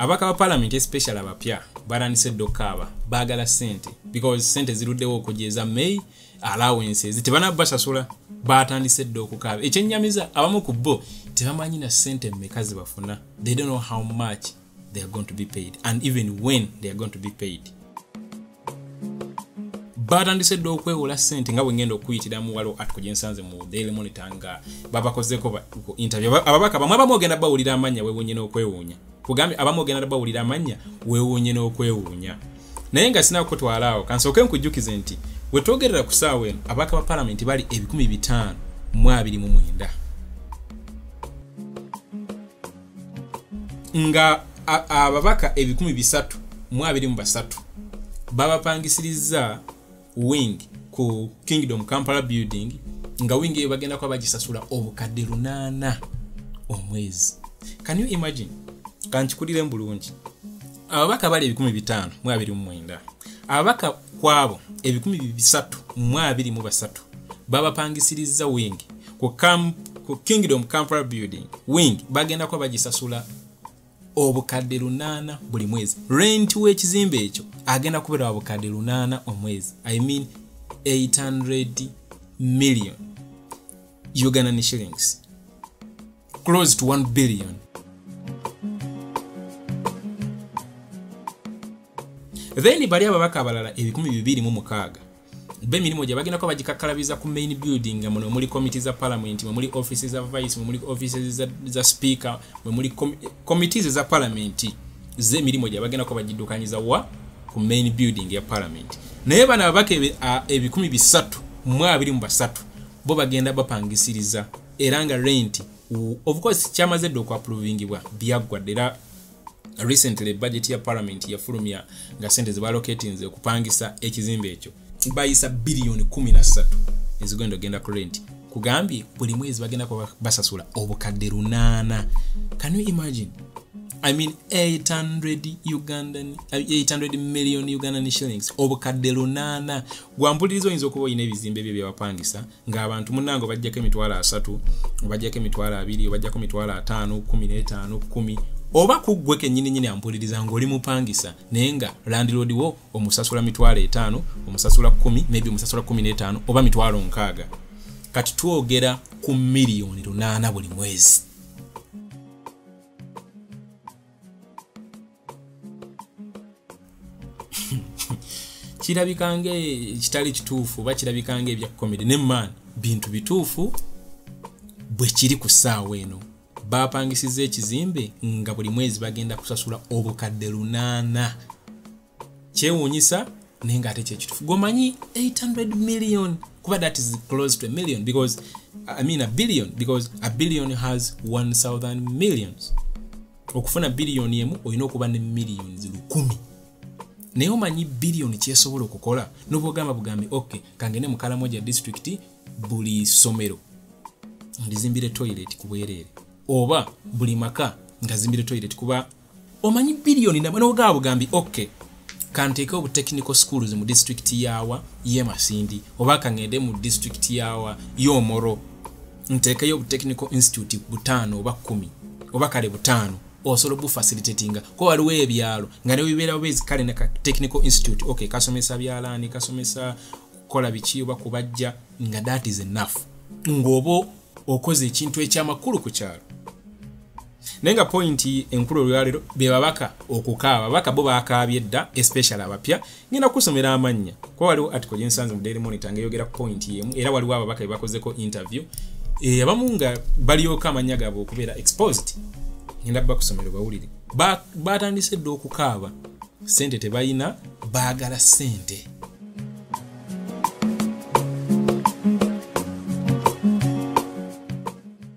abaka ba palamenti especial abapya batandise edda okukaaba baagala sente because sente ziruddewo okujja eza may allowance ezi tebanaba basasula batandise edda okukaaba ekyenyamiza abamu ku bo tebamanyi na sente meka zebafuna they don't know how much they are going to be paid and even when they are going to be paid baatandise dda okwewola sente nga bwengenda okuyitira mu waliwo atiko gyensanze mu daily monitor nga babakozeko ku interview ababaka bamwe abamu ogenda bawulira amannya wewunye n'okwewuunya kugambye abamu ogenda dda bawulira amannya wewunye n'okwewuunya naye nga sina kukutwala awo kansooke nkujjukize nti wetwogerera ku saawa eno ababaka ba palamenti bali ebikumi bitaano mu abiri mu mwenda nga ababaka ebikumi bisatu mu abiri mu basatu babapangisirizza wing ku kingdom kampala building nga wing eyo bagenda kuba bagisasula obukadde lunaana omwezi can you imagine kankikulire mu bulungi ababaka bali ebikumi bitaano mu abiri mu mwenda ababaka kwabo ebikumi bisatu mu abiri mu basatu babapangisirizza wing ku kingdom campal building wing bagenda kuba bagisasula obukadde lunaana buli mwezi renti w'ekizimbe ekyo agenda kubeera wa bukadde lunaana omwezi i mean 800 million ugandan shillings close to 1 billion then bali ababaka abalala ebikumi bibiri mu mukaaga be mirimu gye bagendako bagikakkalabiza ku main building nga muno muli committee za parliament mwe muli offices za vice mwe muli offices za, za speaker mwe muli committees za parliament ze mirimu gye bagendako bagiddukanyiza wa ku main building ya parliament naye bano ababaka ebikumi bisatu mu abiri mu basatu bo bagenda bapangisiriza era nga rent of course kyamaze dde okuaprovingibwa byaggwa dde era recently budget ya parliament yafulumya nga sente zebalocatinze okupangisa ekizimbe ekyo bayisa biliyoni 13 ezigenda ogenda ku rent kugambye buli mwezi bagenda kuba basasula obukadde lunaana can you imagine i mean 800 ugandan 800 million ugandan shillings obukadde lunaana gwampuliriza oyinza okuba olina ebizimbe byo byewapangisa ng'abantu munnange obajjako emitwalo asatu obajjako emitwalo abiri obajjako emitwalo ataano kumi n'etaano kumi oba kuggwe kennyini nyini ampuliriza ng'oli mupangisa naye nga landiloodi wo omusasula mitwalo etaano omusasula kumi maybe omusasula kumi n'etaano oba mitwalo nkaaga kati twogera ku miliyoni lunaana buli mwezi kirabika nga ekitali kituufu oba kirabika nga ebya comedy ne man bintu bituufu bwe kiri ku ssaawa eno baapangisiza ekizimbe nga buli mwezi bagenda kusasula obukadde lunaana kyewuunyisa naye nga ate kyekituufu gwomanyi 800 million kuba that is close to a million because i mean a billion because a billion has 1000 millions okufuna biliyoni emu olina okuba ne millions lukumi naye omanyi biliyoni kyesobola okukola nobwogamba bugambi ok kangende mukalamoja district buli somero ndizimbire toilet kubwerere oba buli maka ngazimbire toilet kuba omanyi biliyoni nogaba bugambi ok kanteeke obu technical schools mu district yawa ye masindi oba kangende mu district yawa yomoro nteekeyo obutechnical institute butaano oba kumi oba kale butaano osobola obufacilitatinga ko waliwo ebyalo nga newebibeerawo bezi kale ne technical institute ok kasomesa byalaani kasomesa kukola biki oba kubajja nga that is enough ngaoba okoze ekintu ekyamakulu ku kyalo naye nga pointi enkulu olwalero be babaka okukaaba babaka bo bakaabye dda especial abapya ngenda kukusomera amannya kuba waliwo article gyensanze mu daily monitor nga eyogera ku pointi yemu era waliwo ababaka be bakozeko interview e, abamu nga balyoka amannya gaabwe okubeera exposed ngenda bba kusomero bawulire batandise dda okukaaba sente tebalina baagala sente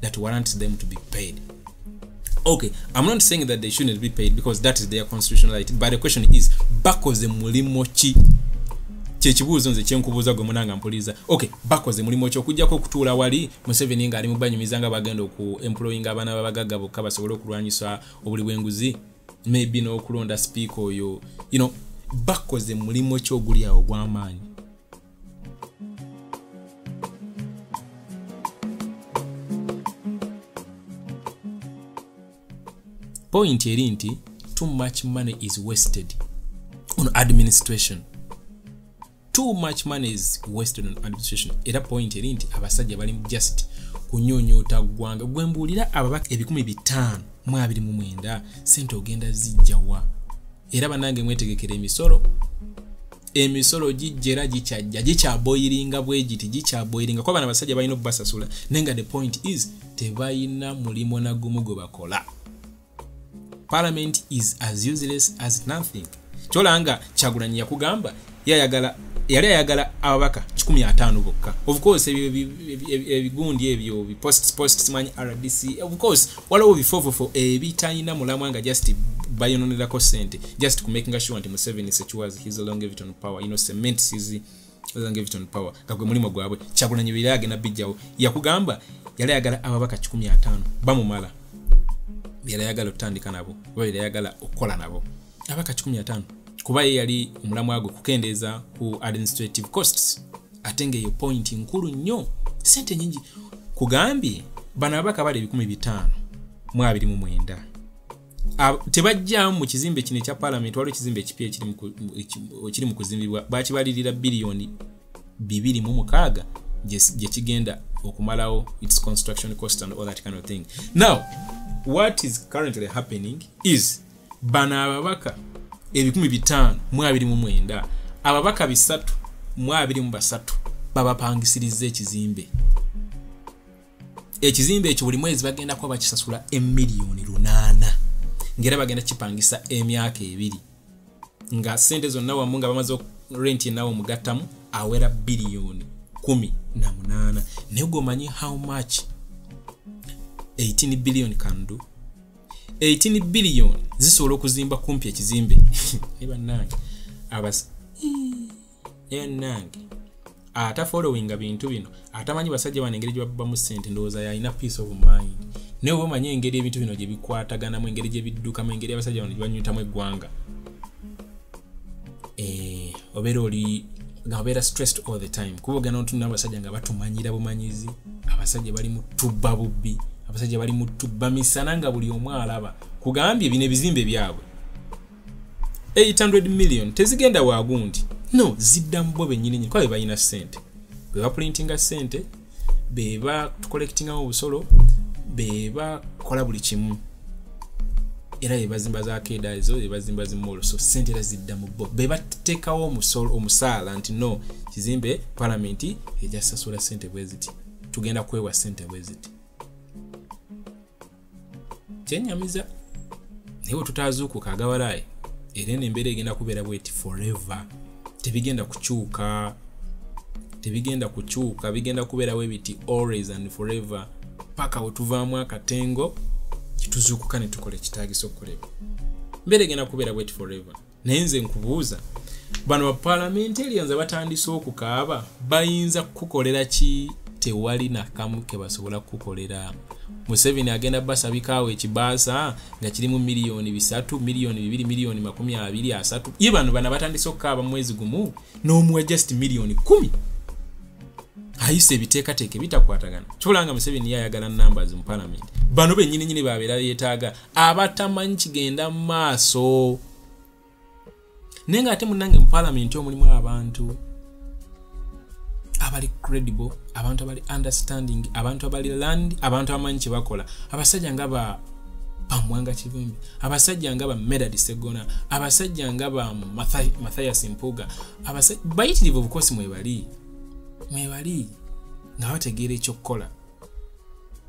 that warrants them to be paid. Okay, I'm not saying that they shouldn't be paid because that is their constitutional right, but the question is, bakoze mulimo chi? kyekibuuzo nze kyenkubuuza gwe munanga mpuliza ok bakoze mulimu ki okujjako okutuula wali museveni nga ali mubanyumiza nga bagenda oku employinga abaana babagagga bokka basobole okulwanyisa obuli bwenguzi maybe n'okulonda sipiika oyo you know bakoze mulimu ki oguli awo gw'amaanyi point eri nti too much money is wasted on administration too much money is wasted on administration era point eri nti abasajja bali just kunyonyoota ggwanga gwe mbuulira ababaka ebikumi bitaano mu abiri mu mwenda sente ogenda zijjawa era banange mwetegekera emisolo emisolo gijjera gikyajja gikyaboyiringa bwegiti gikyaboyiringa kuba bana basajja balina okubasasula naye nga the point is tebalina mulimu nagumu gwe bakola parliament is as useless as nothing kyolanga kyagulanyi yakugamba yayagala yali ayagala ababaka 15 bokka of course ebyo ebigundi ebyo bi post post simanyi rdc of course waliwo bifofofo ebitalina mulamwa nga just bayononerako sente just ku making sure nti museveni secuas his longevity on power you know cement sizi longevity on power nga gwe mulimu gwabwe kyagulanyi biri agenda bijjawo yakugamba yali ayagala ababaka 15 bamumala yali ayagala okutandika nabo oba yali ayagala okukola nabo aba ka 15 kuba ye yali omulamwa gwe kukendeeza ku administrative costs ate ngaeyo point nkulu nnyo sente nyingi kugambye bano ababaka bali ebikumi bitaano mu abiri mu mwenda tebajjamu mu kizimbe kino ekya palamenti waliwo ekizimbe ekipya ekiri mu kuzimbibwa bakibalirira biliyoni bibiri mu mukaaga gye kigenda okumalawo its construction cost and all that kind of thing now what is currently happening is bano ababaka ebikumi bitaano mu abiri mu mwenda ababaka bisatu mu abiri mu basatu babapangisiriza ekizimbe ekizimbe ekyo buli mwezi bagenda kuba bakisasula emiliyoni lunaana ngaera bagenda kipangisa emyaka ebiri nga sente zonna wamu nga bamaze renti enawe omugattamu awera biliyoni kumi na munaana naye gwomanyi how much 18 billion can do 18 billion zisobola okuzimba kumpi ekizimbe ebanange abas enange ata followinga bintu bino atamanyi basajja bano engeri gyebabamu sente ndowooza yalina peace of mind naye oba omanyi engeri ebintu bino gyebikwataganamu engeri gyebiddukamu engeri abasajja bano gyebanyutamu eggwanga eh, obeera oli nga obeera stressed all the time kuba ogenda otunna abasajja nga batumanyira bumanyizi abasajja bali mu tubba bubbi abasajja bali mu tubba misana nga buli omu alaba kugambye bino ebizimbe byabwe 800 million tezigenda wagundi no zidda mubo benyini nyini kuba bebalina sente bwebaprintinga sente beba tukolektingamu obusolo beba kola buli kimu era bebazimba za keda ezo bebazimba zimolo so sente era zidda mu bo bebatekawo omusolo omusaala nti no kizimbe palamenti ejasasula sente bweziti tugenda kwewa sente bweziti kyenyamiza naye wetutazuukuka agawalaayi era eno embeera egenda kubeera bweti forever tebigenda kukyuka tebigenda kukyuka bigenda kubeera webiti always and forever paka wetuvaamu akatengo kituzuukuka netukola ekitagisa okukolebwa mbeera egenda kubeera bweti forever naye nze nkubuuza bano bapalamentarians abatandise okukaaba bayinza kukukolera ki tewali nakamu kebasobola kukukolera museveni agenda basabikaawo ekibaasa nga kirimu miliyoni bisatu miliyoni bibiri miliyoni makumi abiri asatu ye bano bana batandise okukaaba mwezi gumu n'omuwa just miliyoni kumi ayisa ebiteekateeka ebitakwatagana kyola nga museveni ye ayagala numbers mu palamenti bano benyini nyini babeera yetaaga abatamanyi kigenda mu maaso naye nga ate munange mu palamenti omulimu abantu abali credible abantu abali understanding abantu abali land abantu abamanyi kyebakola abasajja nga ba bamwanga kivumbi abasajja nga ba medad segona abasajja nga ba mathias mpuga bayitirivu obukosi mwebali mwebali nga bategeera ekyokukola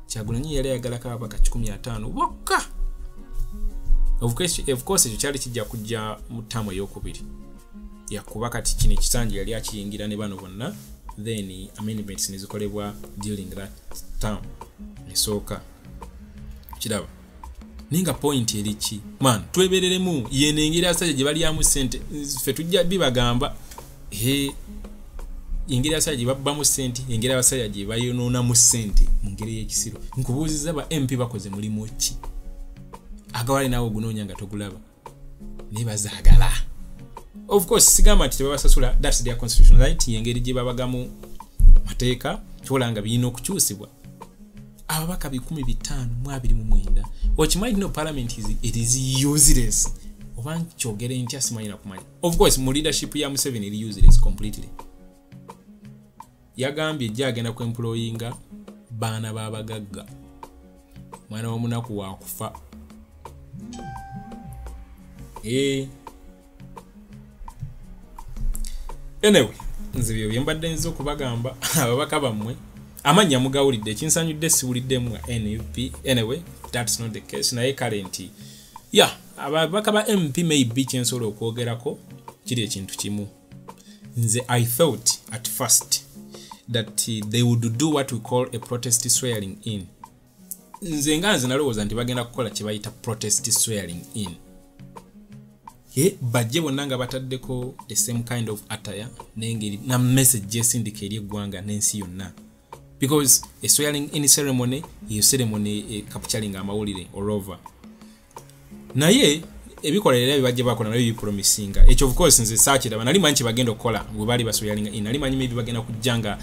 kyagulanyi yali ayagalako ababaka 15 bokka ofcourse ekyo kyali kijja kujja mu taamu eyokubiri yakuba kati kino ekisanja yali akiyingira ne bano bonna then amendments nezikolebwa dealing that term nesooka kiraba naye nga point eriki man twebereremu yeno engeri asajja gye balyamu sente ffe tujja bibagamba e engeri asajja gye babbamu sente engeri abasajja gye bayonoonamu sente mu ngeri ey'ekisiro nkubuuziza ba mp bakoze mulimu ki agawale naawe ogunoonya nga togulaba naye bazagala of course sigamba nti tebabasasula thats their constitution right yengeri gye babagamu mateeka kyola nga birina okukyusibwa ababaka bikumi bitaano mu abiri mu mwenda okimanyi tino parliament it is useless oba nkyogere ntya simanyi nakumanya of course mu leadership ya museveni eri useless completely yagambye jja agenda ku employinga baana babagagga mwana womunaku wakufa eh. anyway nze byo byembadde nza okubagamba ababaka bammwe amannya mugawulidde ekinsanyudde siwuliddemu nga nup anyway thats not the case naye kale nti ya yeah, ababaka ba mp maybe kyensobola okwogerako kiri ekintu kimu nze i thought at first that they would do what we call a protest swearing in nze nga nze nalowooza nti bagenda kukola kyebayita protest swearing in e bajje bonna nga bataddeko the same kind of attire nengeri na message gyesindika eri eggwanga n'ensi yonna because a swearing in ceremony eyo ceremony e eh, capturing amawulire orover naye ebikola era bibajja bakola nabyo bipromisinga ekyo of course nze saakiraba nali manyi kyebagenda okukola bwe baali basoyalinga in nali manyi maybe bagenda kujja nga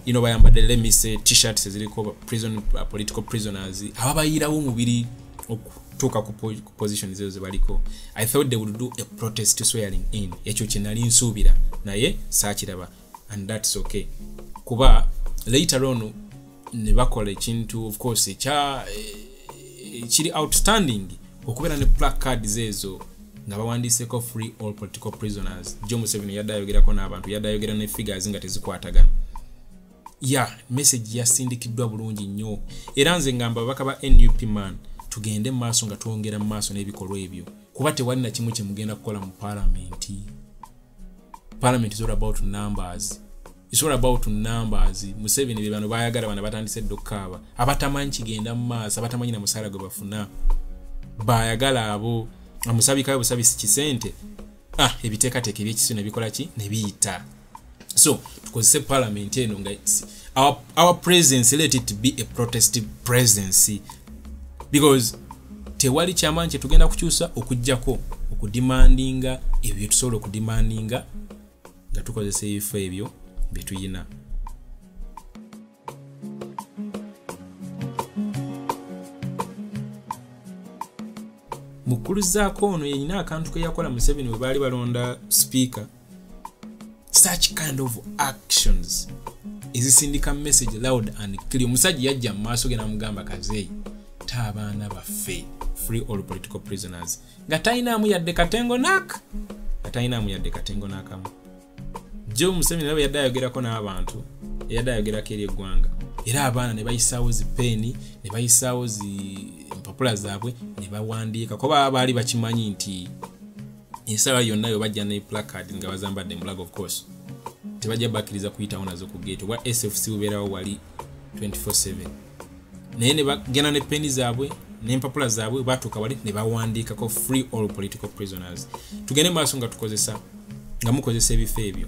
you know bayambadde lemise t-shirts eziriko prison uh, political prisoners ababayiirawo omubiri okutuuka ku position zezo zebaliko i thought they would do a protest swearing in ekyo kyenali nsuubira naye saakiraba and that's okay kuba later on ne bakola ekintu of course ekya eh, kiri outstanding okubeera ne plack cards ezo nga bawandiiseko free all political prisoners jo museveni yadde ayogerako n'abantu yadde ayogera ne figures nga tezikwatagana ya message yasindikiddwa bulungi nnyo era nze ngamba ababaka ba nup man tugende mu maaso nga twongera mu maaso n'ebikolwa ebyo kuba tewali na kimu kyemugenda kukola mu palamenti parliament is all about numbers it's all about numbers museveni bebano bayagala bana batandise dda okukaaba abatamanyi kigenda mu maaso abatamanyi na musaala gwe bafuna bayagala abo amusabikayo busabisi kisente ah ebiteekateeka ebyekisio nebikola ki nebiyita so tukozese parliament eno nga our, our presence let it be a protest presidency because tewali kyamanyi kyetugenda kukyusa okujjako okudimandinga ebyo byetusobola okudimandinga nga tukozesa ebifo ebyo byetuyina mukkuluzaako ono yenyina akantu keyakola museveni webaali balonda sipiika such kind of actions ezisindika message loud and clear omusajja yajja mu maaso ge namugamba kazeeyi ta abaana baffe free all political prisoners nga talinaamu yadde katengo nak nga talinaamu yadde katengo nakamu jo museveni nabo yadde ayogerako n'abantu eyadde ayogerako eri eggwanga era abaana ne bayisaawo zi peeni ne bayisaawo zi empapula zaabwe ne bawandiika kuba baali bakimanyi nti ensala yonna yo bajja ne placard nga bazambadde mulaga of course tebajja bakkiriza kuyitawo nazo ku gate oba sfc bubeerawo wali 24/7 naye nebagenda ne peni zaabwe nempapula zaabwe batuuka wali nebawandiikako free all political prisoners tugende maaso nga tukozesa nga mukozesa ebifo ebyo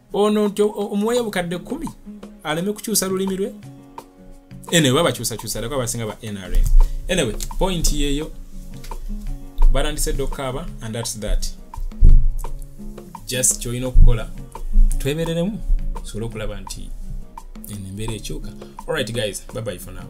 ono nti omuwayo obukadde kumi aleme kukyusa lulimi lwe anyway babakyusakyusa aleko abasinga ba nrm anyway point yeyo batandise dda okukaaba and thats that just kyolina okukola twebereremu tusobole okulaba nti eno embeera ekyuka alright guys babayi for now